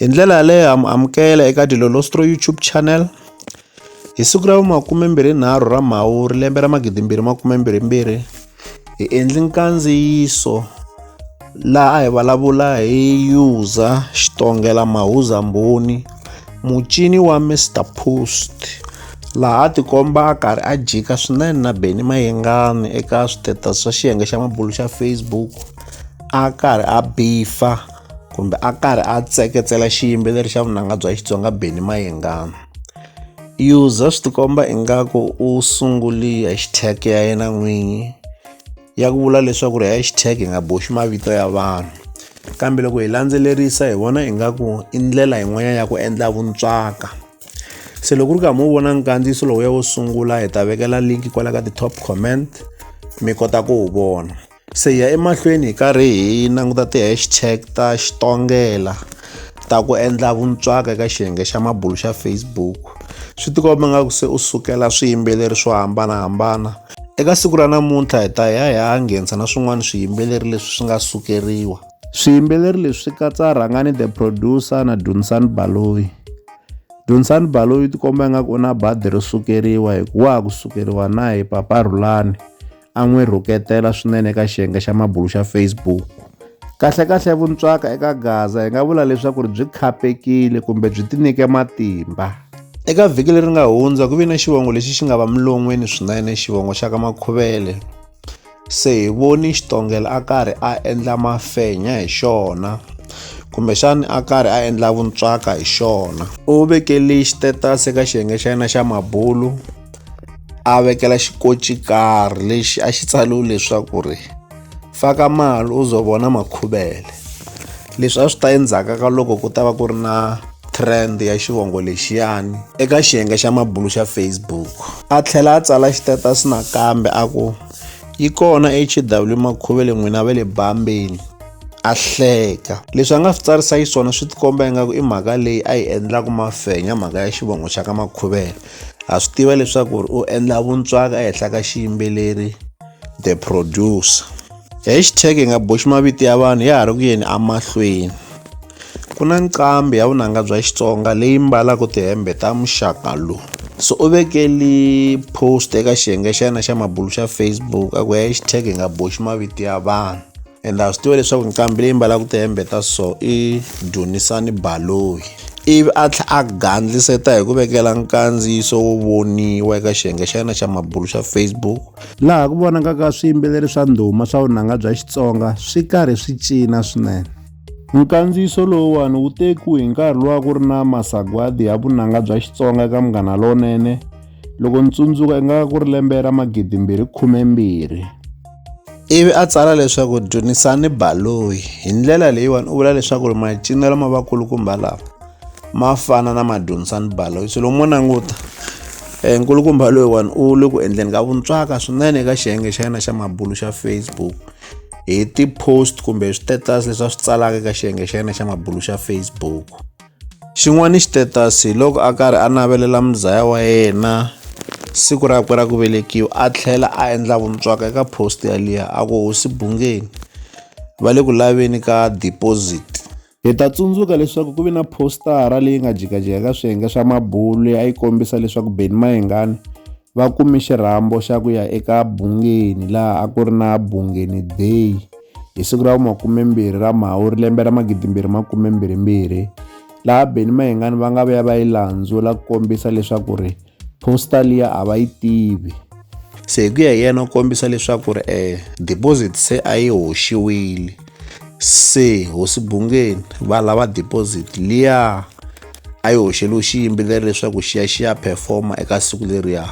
Hi ndlela yaleyo ha mi amukela eka Dilolostro YouTube channel hi siku ra makume mbirhi nharhu ra Mhawuri lembe ra magidi mbirhi makume mbirhi mbirhi hi endli nkandziyiso laha a hi vulavula hi user xitongela mahuza mbhoni mucini wa Mr Post laha a tikomba a karhi a jika swinene na Benny Mayengani eka switetasi swa xiyenge xa mabulu xa Facebook a karhi a bifa. kumbe a karhi a tseketsela xiyimbeleri xa vunanga bya xitsonga beni mayengana user swi tikomba ingaku u sunguli ya xitag ya yena n'winyi ya ku vula leswaku ri ya xitag hi nga boxi mavito ya vanhu kambe loko hi landzelerisa hi vona ingaku i ndlela yin'wanyana ya ku endla vuntswaka se loko ku ri karhi mu vona nkandziyiso lowuya wo sungula hi ta vekela link kwala ka ti-top comment mi kota ku wu vona Se hi ya emahlweni hi karhi hi languta ti-hashtag ta Xitongela ta ku endla vuntswaka eka xiyenge xa mabulu xa Facebook. Swi tikomba nga ku se u sukela swiyimbeleri swo hambanahambana. Eka siku ra namuntlha hi ta ya hi ya nghenisa na swin'wana swiyimbeleri leswi swi nga sukeriwa. Swiyimbeleri leswi swi katsa Rhangani the producer na Dunsani Baloyi. Dunsani Baloyi u tikomba ingaku u na badi ro sukeriwa hikuva wa ha ku sukeriwa na hi Papa Rhulani. a n'wi rhuketela swinene eka xiyenge xa mabulu xa Facebook. Kahlekahle vuntswaka eka Gaza hi nga vula leswaku ri byi khapekile kumbe byi tinike matimba. Eka vhiki leri nga hundza ku ve na xivongo lexi xi nga va milon'weni swinene xivongo xa ka Makhuvele. Se hi voni Xitongela a karhi a endla mafenya hi xona kumbexani a karhi a endla vuntswaka hi xona. U vekele xitetasi eka xiyenge xa yena xa mabulu. a vekela xikochikarhi lexi a xi tsaliwe leswaku ri faka mali u zo vona makhuvele leswi a swi ta endzhaku ka loko ku ta va ku ri na trend ya xivongo lexiyani eka xiyenge xa mabulu xa facebook a tlhela a tsala xitatus nakambe a ku yi kona hw makhuvele n'wina va le bambeni a hleka leswi a nga swi tsarisa xiswona swi tikomba ingaku i mhaka leyi a yi endlaku mafenya mhaka ya xivongo xa ka makhuvela ha swi tiva leswaku ri u endla vuntswaka ehenhla ka xiyimbeleri the producer hashtag hi nga boxi mavito ya vanhu ya ha ri ku yeni emahlweni ku na nqambi ya vunanga bya xitsonga leyi mbalaka tihembe ta muxaka lowu so u vekeli post eka xiyenge xa yena xa mabulu xa facebook a ku hashtag hi nga boxi mavito ya vanhu and a swi tiva leswaku nqambi leyi mbalaka tihembe ta so i dunisani baloyi ivi a tlha a gandliseta hi ku vekela nkandziyiso wo voniwa eka xiyenge xa yena xa mabulu xa facebook laha ku vonakaka swiyimbeleri swa ndhuma swa vunanga bya xitsonga swi karhi swi cina swinene nkandziyiso lowuwani wu tekiwe hi nkarhi lowa ku ri na masagwadi ya vunanga bya xitsonga eka munghana lonene loko ni tsundzuka i nga ku ri lembe ra magidimbirhi khume mbirhi ivi a tsala leswaku dyondzisani baloyi hi ndlela leyiwani u vula leswaku ri macinelo ma vakulukumba lawa ma fana na madyondzisani baloyi swilo mo languta um eh, nkulukumba loyiwani u le ku endleni ka vuntswaka swinene eka xiyenge xa yena xa mabulu xa facebook hi ti-post kumbe hi switatus leswi a swi tsalaka eka xiyenge xa yena xa mabulu xa facebook Xin'wana i xitetasi loko a karhi a navelela muzaya wa yena siku rakwe ra ku velekiwa a tlhela a endla vuntswaka eka post yaliya a ku hosi bungeni va le ku laveni ka deposit hi ta tsundzuka leswaku ku ve na postara leyi nga jikajika ka swiyenge swa mabulu leyi a yi kombisa leswaku beni mayingani va kume xirhambo xa ku ya eka Bungeni laha a ku ri na Bungeni Day hi siku ra makumembirhi ra Mhawuri lembe ra magidimbirhi makumembirhimbirhi laha Benny Mayengani va nga vuya va yi landzula ku kombisa leswaku ri poster liya a va yi tivi se hi ku ya hi yena u kombisa leswaku ri um deposit se a yi hoxiwile se hosi bungeni va lava deposit liya a yi hoxeliwe xiyimbeleri leswaku xi ya xi ya performa eka siku leriya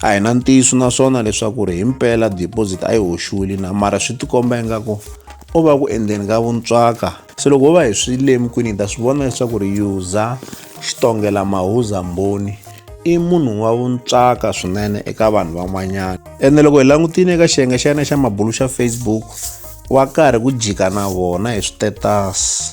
a hi na ntiyiso naswona leswaku ri hi mpela deposit a yi hoxiwile na mara swi tikomba ingaku o va ku endleni ka vuntswaka se loko ho va hi swi lemukini hi ta swi vona leswaku ri yuza xitongela mahuza mboni i munhu wa vuntswaka swinene eka vanhu van'wanyana ene loko hi langutile eka xiyenge xa yena xa mabulu xa facebook wa karhi ku jika na vona hi switetasi